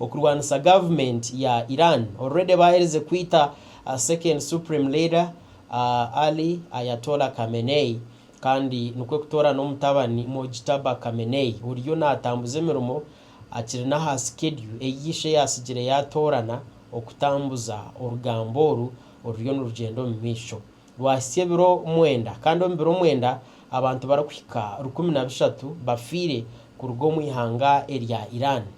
okurwanisa government ya Iran already baherize kwita second supreme leader Ali Ayatollah Khamenei kandi nikwo kutoora n'omutabani Mojtaba Khamenei oriyo natambuza emirimo akiri n'aha schedule eyi ishe yatsigire yatoorana okutambuza orugambo oru oruriyo nirugyenda omu maisho rwahitsya ebiro mwenda kandi omu biro mwenda abantu barikuhika rukumi na bishatu bafiire kuruga omu ihanga erya Iran.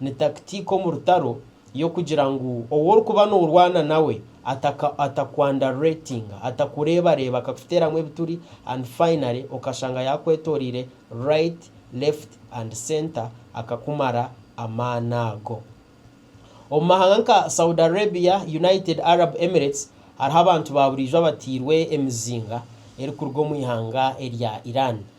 Ni takitiika omu rutaro y'okugira ngu ou orikuba noorwana nawe ata ku underratinga, atakureebareeba, akakuteeramu ebituri and finally okashanga yaakwetooreire right, left and centre akakumara amaani ago. Omu mahanga nka Saudi Arabia, United Arab Emirates hariho abantu baaburiijo abatairwe emizinga erikuruga omu ihanga erya Iran.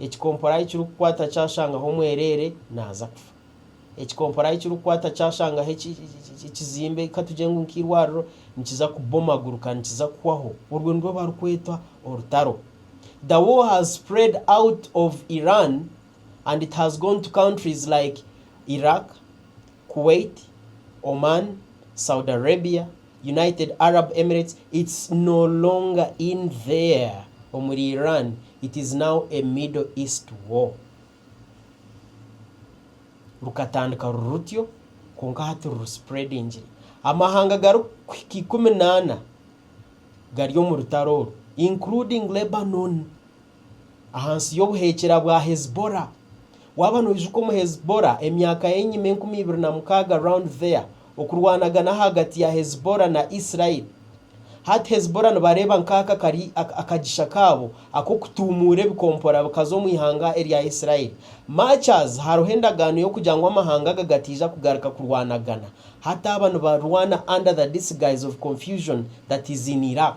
Ekikompora ahi kirikukwata kyashangaho omwereere, naaza kufa. Ekikompora ahi kirikukwata kyashangaho ekizimbe, ka tugire ngu nk'eirwariro, nikiza kubomaguruka, nikiza kuhwaho. Orwo nirwo barikweta orutaro. The war has spread out of Iran and it has gone to countries like Iraq, Kuwait, Oman, Saudi Arabia, United Arab Emirates it's no longer in there omuri Iran it is now a middle east war rukatandika ruri rutyo kwonka hati ruri spreadingire amahanga gari kuhika ikumi na ana gari omu rutaro oru including Lebanon. Ahansi y'obuheekyera bwa Hezbollah. Waaba noijuka omu Hezbollah emyaka y'enyima enkumi ibiri na mukaaga round there okurwanagana ahagati ya Hezbollah na Israel. Hati Hezbollah nibareeba nkaaka kari akagisha kaabo ak'okutuumuura ebikompora bikaza omu ihanga erya Israel. Much as hariho endagaano y'okugira ngu amahanga aga gataija kugaruka kurwanagana, hati aba nibarwana under the disguise of confusion that is in Iraq.